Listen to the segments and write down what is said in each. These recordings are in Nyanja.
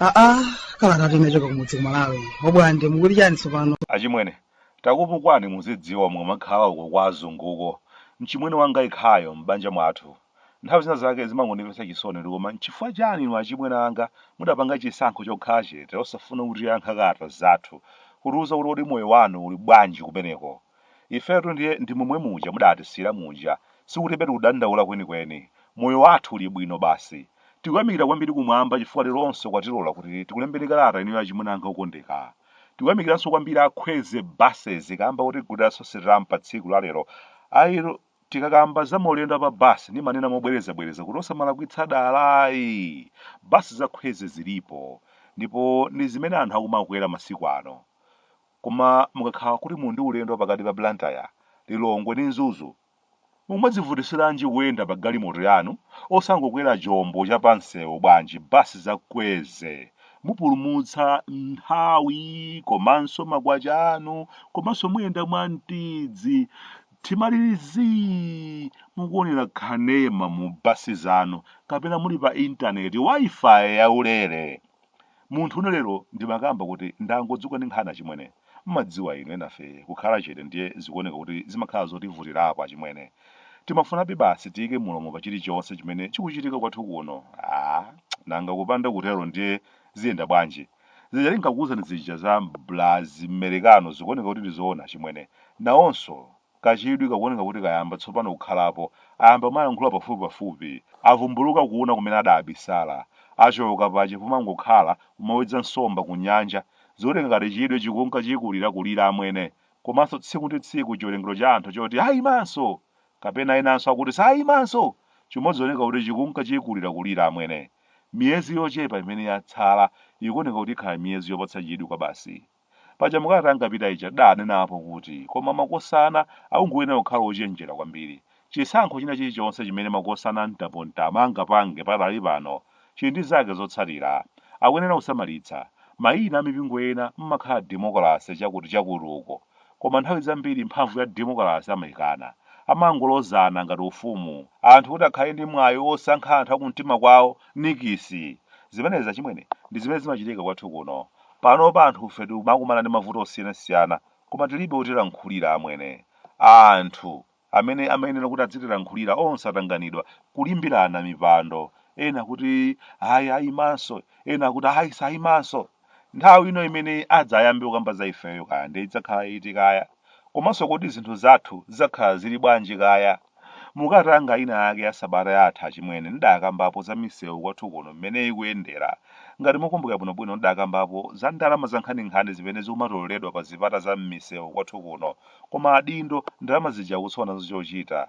aa kala kati nachoka kumudzi kumalawi obwande mukuti chani tsopano achimwene takupukwani muzidziwa mukamakhala uko kwa azunguko mchimwene wanga ikhayo m'banja mwathu Nthawi zina zake zimangondipatsa chisoni kuti koma nchifukwa chani inu achimwene anga mudapanga chisankho chokhala chete osafuna kutiyankha kalata zathu kutiuza kuti kodi moyo wanu uli bwanji kumeneko? Ifetu ndiye ndi momwe muja mudatisiyira muja sikuti pe tikudandaula kwenikweni moyo wathu uli bwino basi. Tikuyamikira kwambiri kumwamba chifukwa leronso kwatilola kuti tikulembeni kalata inuyo achimwene anga okondeka. Tikuyamikiranso kwambiri a Kwezy Buses kamba kotigulira Sosherramu patsiku la lero. I. Tikakamba za maulendo a pa basi ndimanena mobwerezabwereza kuti osamalakwitsa dala ayi. Basi za Kwezy zilipo ndipo ndi zimene anthu akumakwera masiku ano. Koma mukakhala kuti muli ndi ulendo wa pakati pa Blantyre, Lilongwe ndi Mzuzu, mumadzivutitsiranji kuyenda pa galimoto yanu osangokwera chombo cha pa msewu bwanji basi za Kwezy. Mupulumutsa nthawi komanso makwacha anu komanso muyenda mwamtidzi. Timalili zii mukuonera kanema mu basi zanu kapena muli pa internet Wi-Fi ya ulere. Munthune lero ndimakamba kuti ndangodzuka ndi nkhani achimwene. Mmadziwa inu enafe kukhala chete ndiye zikuoneka kuti zimakhala zotivutirapo achimwene. Timafunabe basi tiike mulomo pa chilichonse chimene chikuchitika kwathu kuno. Aaa nanga kupanda kutero ndiye ziyenda bwanji? Zija tinkakuuzani zija za blazi Amerikano zikuoneka kuti ndi zoona achimwene. Nawonso kachidwi kakuoneka kuti kayamba tsopano kukhalapo. Ayamba kumalankhula pafupipafupi. Avumbuluka kuuna kumene adaabisala. Achoka paja pomangokhala kumawedza nsomba kunyanja. Zikuoneka ngati chidwi chikunka chikulirakulira amwene. Komanso tsiku ndi tsiku chiwerengero cha anthu choti aimanso! kapena enanso akuti sayimanso, chimodzioneka kuti chikunka chikulirakulira amwene. Miyezi yochepa imene yatsala ikuoneka kuti ikhala miyezi yopatsa chidwi kwabasi. Paja mu kalata yanga yapita ija ndidanenapo kuti koma makosana akungoyenera kukhala ochenjera kwambiri. Chisankho china chilichonse chimene makosana a mtapomtama angapange pakadali pano chili ndi zake zotsatira. Akuyenera kusamalitsa. Mayina a mipingo ena mmakhala demokalase chakuti chakuti uko, koma nthawi zambiri mphamvu ya demokalase amayikana. Amangolozana ngati ufumu. Anthu kuti akhale ndi mwayi wosankha anthu a kumtima kwawo, nikisi! Zimenezi achimwene, ndi zimene zimachitika kwathu kuno. Panopa anthufe tikumakumana ndi mavuto osiyanasiyana, koma tilibe otilankhulira, amwene. Anthu! amene amayenera kuti adzitilankhulira onse atanganidwa kulimbirana mipando ena akuti ayi ayimanso ena akuti ayi sayimanso nthawi ino imene adzayambe kukamba za ifeyo kaya ndiye idzakhala iti kaya komanso kodi zinthu zathu zidzakhala zili bwanji kaya mu kalata yanga ina yake ya sabata yatha achimwene ndidakambapo za misewu kwathu kuno mmene ikuyendera ngati mukumbuka bwinobwino ndidakambapo za ndalama zankhaninkhani zimene zikumatoleredwa pa zipata za mmisewu kwathu kuno koma adindo ndalama zija akusowa nazo chochita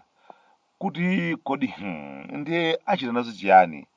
kuti kodi hmm, ndiye achita nazo chiyani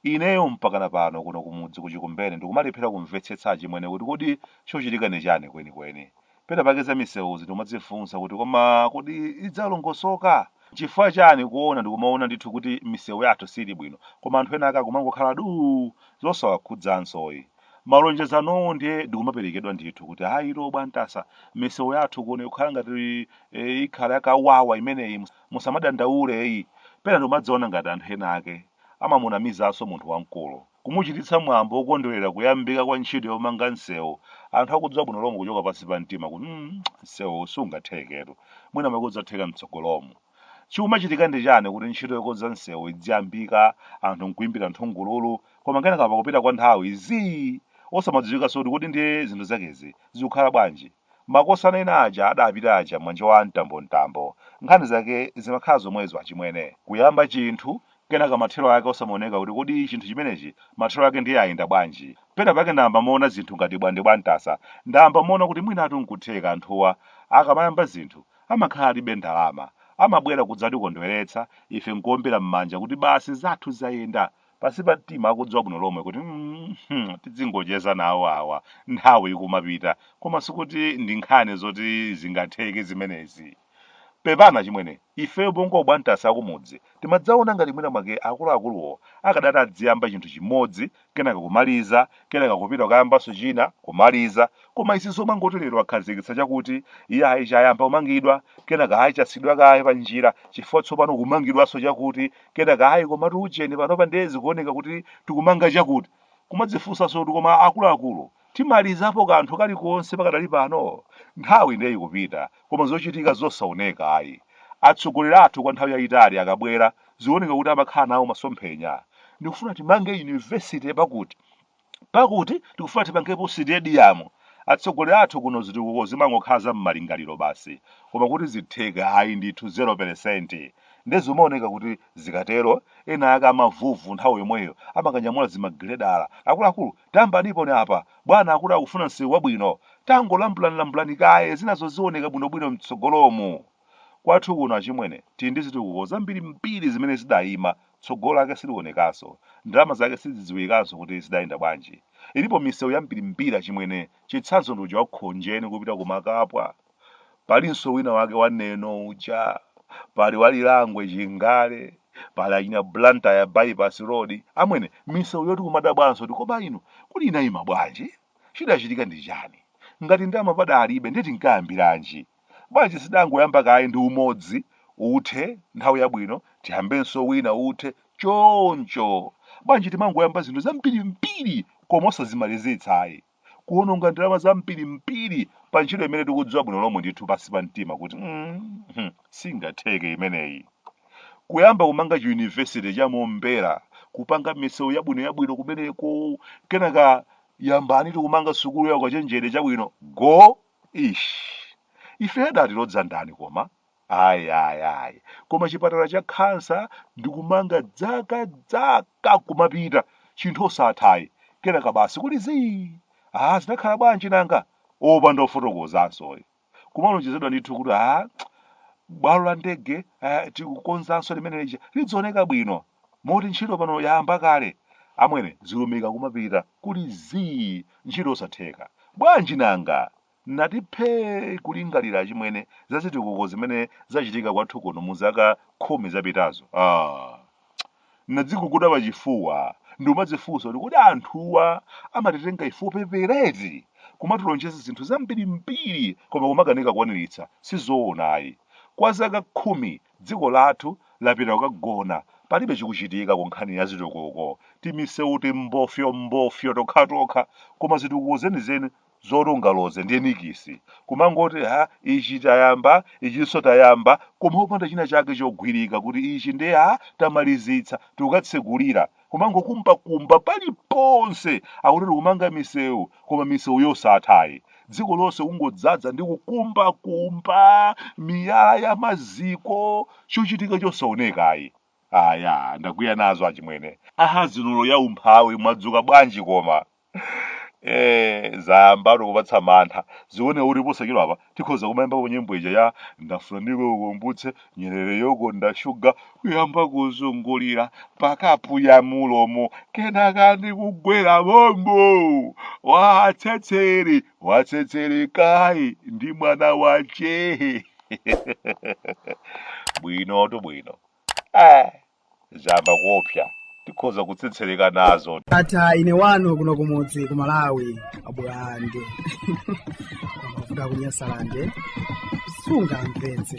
ineyo mpakana pano kuno kumudzi kuchikumbene ndikumalephera kumvetsetsa achimwene kuti kodi chochitika ni chani kwenikweni pena pake za misewuzi ndikumadzifunsa kuti koma kodi idzalongosoka chifukwa chani kuona ndikumaona ndithu kuti misewu yathu siili bwino koma anthu ena ake akumangokhala duu zosawakhudzansoyi Malonjezanowo ndiye ndikumaperekedwa ndithu kuti ayi bwantasa misewu yathu kuno kukhala ngati e, ikhala yakawawa imeneyi mus- musamadandaule eyi pena ndikumadziona ngati anthu ena ake amamunamizanso munthu wamkulu kumuchititsa mwambo wokondwerera kuyambika kwa ntchito yomanga msewu anthu akudziwa bwino lomwe kuchoka pansi pa mtima kuti mm, msewuwu sungatheketu mwina mwake udzatheka mtsogolomu chikumachitika ndi chani kuti ntchito yokonza msewu idziyambika anthu nkuimbira nthungululu koma kenaka pakupita kwa nthawi zii osamadziwikanso kuti kodi ndiye zinthu zakezi zikukhala bwanji. Makosana ena aja adapita aja manja wa mtambomtambo nkhani zake zimakhala zomwezo achimwene. Kuyamba chinthu, kenaka mathero ake osamaoneka kuti kodi chinthu chimenechi mathero ake ndiye ayenda bwanji. Pena pake ndayamba maona zinthu ngati bwande bwantasa, ndayamba maona kuti mwinatu nkutheka anthuwa akamayamba zinthu amakhala alibe ndalama, amabwera kudzatikondweretsa ife nkuombera m'manja kuti basi zathu zayenda. Pansi pa mtima akudziwa bwino lomwe kuti mm, tidzingocheza nawo awa nthawi ikumapita koma sikuti ndi nkhani zoti zingatheke zimenezi. Pepani achimwene, ifeyo bongo bwantasa akumudzi timadzaona ngati mwina mwake akuluakuluwo akadati adziyamba chinthu chimodzi kenaka kumaliza kenaka kupita kukayambanso china kumaliza koma izi zomangoti lero akhazikitsa chakuti iye ayi chayamba kumangidwa kenaka ayi chasiidwa kaye pa njira chifukwa tsopano kumangidwanso chakuti kenaka ayi komatu ujeni panopa ndiye zikuoneka kuti tikumanga chakuti kumadzifunsanso kuti koma akuluakulu timalizapo kanthu kalikonse pakadali pano nthawi ndiye ikupita koma zochitika zosaoneka ayi atsogoleri athu kwa nthawi yayitali akabwera zioneka kuti amakhala nawo masomphenya ndikufuna timange yunivesite pakuti Pakuti tikufuna tipangepo sitediyamu. Atsogoleri athu kuno zitukuko zimangokhala za mmalingaliro basi. Koma kuti zitheka ayi ndithu zero pelesenti. Nde zimaoneka kuti zikatero ena ake amavuvu nthawi yomweyo amakanyamula zimagiledala. Akuluakulu tayambaniponi apa. Bwana akuti akufuna msewu wabwino. Tangolambulanilambulani kaye zinazo zioneka bwinobwino mtsogolomu. Kwathu kuno achimwene tili ndi zitukuko zambirimbiri zimene zidaima Tsogolo lake silionekanso. Ndalama zake sizidziwikanso kuti zidayenda bwanji. Ilipo misewu yambirimbiri achimwene. Chitsanzo ndi uja wa Khonjeni kupita ku Makapwa. Palinso wina wake wa Neno uja. Pali wa Lirangwe Chingale. Pali achina Blantyre Bypass Road. Amwene, misewu yoti kumadabwanso kuti koma inu, kodi inayima bwanji? Chidachitika ndi chani? Ngati ndalama padalibe ndiye tinkayambiranji? Bwanji sitidangoyamba kaye ndi umodzi uthe nthawi yabwino tiyambenso wina uthe choncho. Bwanji timangoyamba zinthu zambirimbiri koma osazimalizitsa ayi. Kuononga ndalama zambirimbiri pa ntchito imene tikudziwa bwino lomwe ndithu pansi pa mtima kuti mm, singatheke imeneyi. Kuyamba kumanga chiyunivesite cha Mombera, kupanga misewu yabwino yabwino kumeneko, kenaka yambani tikumanga sukulu ya ukachenjede chabwino go Eish. Ife adatilodza ndani koma? Ayi ayi ayi. Koma chipatala cha khansa ndikumanga dzaka dzaka kumapita. Chinthu osatha ayi. Kenaka basi kuli zii. Ah, zinakhala bwanji nanga? Opanda ofotokozanso ayi. Kumalonjezedwa ndithu kuti ah, bwalo la ndege eh, tikukonzanso limene lija lidzioneka bwino. Moti ntchito pano yayamba kale? Amwene, zilumika kumapita, kuli zii, ntchito osatheka. Bwanji nanga? Nati phee kulingalira achimwene za zitukuko zimene zachitika kwathu kuno mu zaka khumi zapitazo. Aaa! Nadziguguda pachifuwa, ndikumadzifunsa kuti kodi anthuwa amatitenga ife opepera eti? Kumatilonjeza zinthu zambirimbiri koma kumakanika kukwaniritsa, sizoona ayi. Kwa zaka khumi Dziko lathu lapita kukagona palibe chikuchitika ku nkhani ya zitukuko. Timisewu timbofyombofyo tokhatokha koma zitukuko zenizeni zoti ungaloze ndiye nikisi. Kumangoti ha ichi tayamba ichinso tayamba koma opanda china chake chogwirika kuti ichi ndiye ha tamalizitsa tikukatsekulira. kumangokumbakumba paliponse akuti tikumanga misewu koma misewu yosatha ayi dziko lonse kungodzadza ndi kukumbakumba miyala ya maziko chochitika chosaoneka ayi aya ndakwiya nazo achimwene aha zinulo ya umphawi mwadzuka bwanji koma Eh, zayambatu kupatsa mantha zikuoneka kuti posachedwa apa tikhoza kumayamba ku nyimbo ija ya ndafuna ndikukumbutse nyerere yokonda shuga kuyamba kuzungulira pakapu ya mulomo kenaka ndikugwera mommo watsetsere watsetsereka ayi ndi mwana wache bwinotu bwino ah. Zayamba kuopsa. Tikhoza kutsetsereka nazo. Ndatha ine wanu kuno kumudzi ku Malawi abwande amavuta kunyasalande sunga mpenzi